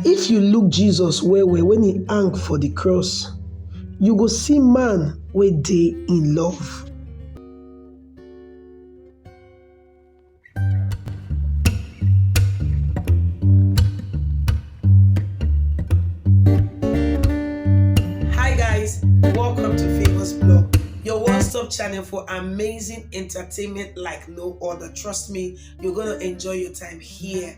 If you look Jesus well-well wen e hang for di cross, you go see man wey dey in love. Hi guys, welcome to Famous Blog, your one-stop channel for amazing entertainment like no other. Trust me, you're gonna enjoy your time here.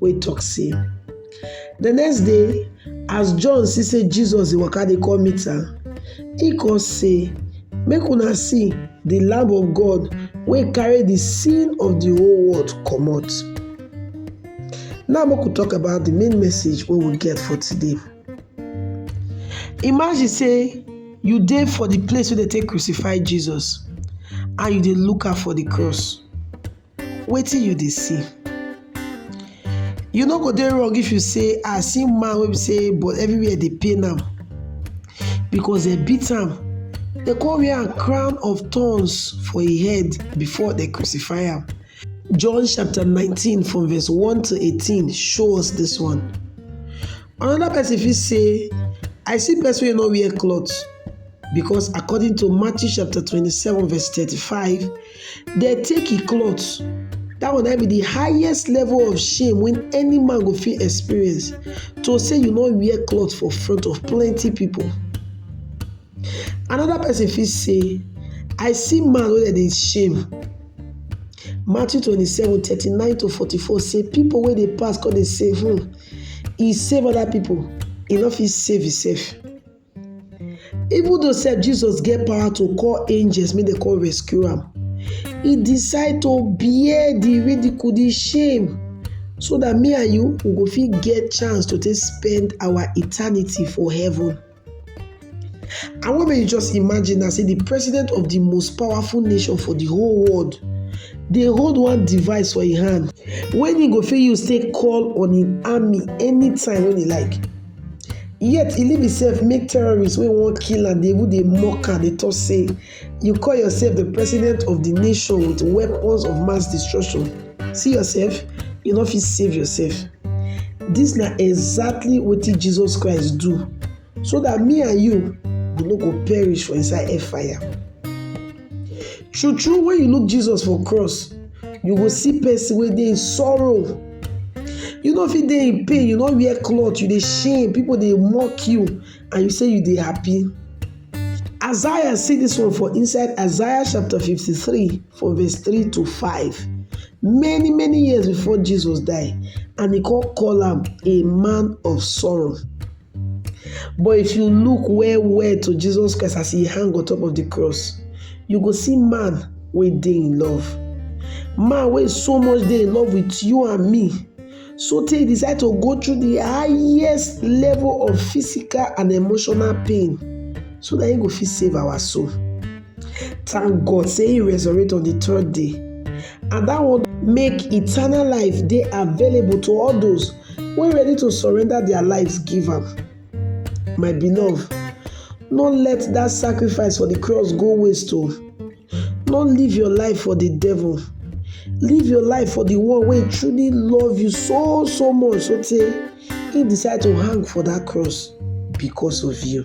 wey talk say, The next day, as John see say Jesus dey waka dey come meet am, he come say, Make una see the Lamb of God wey carry the sin of the whole world comot. Now make we talk about the main message wey we get for today. Imagine say you dey for the place wey dey take crucify Jesus and you dey look out for the cross. wetin you dey see you no go dey wrong if you say ah see man wey be say but everywhere dey pain am because dem beat am dem come wear am crown of thorns for im head before dem crucify am john chapter nineteen from verse one to eighteen show us this one another person fit say i see person wey no wear cloth because according to matthew chapter twenty-seven verse thirty-five Dem take im cloth, dat one na im be de highest level of shame wey any man go fit experience to say you no wear cloth for front of plenty pipu. Another person fit say I see man wey dem dey shame, Matthew twenty seven thirty nine to forty four say pipu wey dey pass come dey say um e save other pipu e no fit save himself. Even though sef Jesus get power to call angels make dem come rescue am, he decide to bear the ridicule, the shame so that me and you we go fit get chance to take spend our eternity for heaven. I want make you just imagine now say the president of the most powerful nation for the whole world dey hold one device for im hand wey im go fit use take call on im army anytime wey e like. Yet e leave imsef make terrorists wey wan kill am dey even dey mock am dey tok say you call yourself di president of di nation wit weapons of mass destruction see yourself you no fit save yourself dis na exactly wetin Jesus Christ do so dat me and you we no go perish for inside hellfire. True true when you look Jesus for cross, you go see person wey dey in sorrow. You no fit dey in pain, you no wear cloth, you dey shame, people dey mock you and you say you dey happy. Isaiah see this one for inside Isaiah chapter 53 for verse 3 to 5. Many many years before Jesus die and he come call am a man of sorrow. But if you look well well to Jesus Christ as he hang on top of the cross, you go see man wey dey in love. Man wey so much dey in love with you and me, so tey he decide to go through the highest level of physical and emotional pain so that he go fit save our soul. Thank God say he resurrect on the third day and that one make eternal life dey available to all those wey ready to surrender their lives give am. My beloved, no let that sacrifice for the cross go waste o. Oh. No live your life for the devil. Live your life for the one wey truly love you so so much so tey he decide to hang for that cross because of you.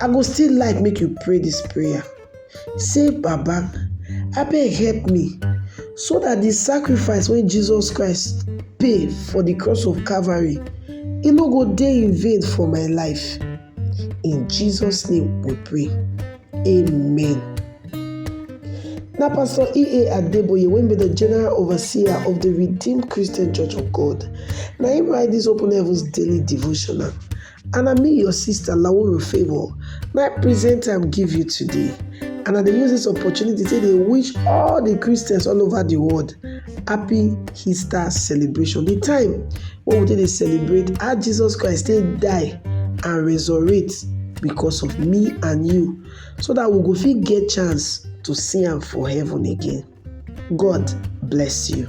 I go still like make you pray this prayer. Say, Baba, abeg help me so that the sacrifice when Jesus Christ pay for the cross of Calvary, e no go dey in vain for my life. In Jesus' name we pray. Amen. Now, Pastor E.A. Adeboye, when be the General Overseer of the Redeemed Christian Church of God, now he write this Open Heavens Daily Devotional. And na me your sister Lauru Favour na I present am give you today and I dey use this opportunity take dey wish all the Christians all over the world happy Easter celebration the time wey we take dey celebrate how Jesus Christ take die and resurrect because of me and you so that we go fit get chance to see am for heaven again God bless you.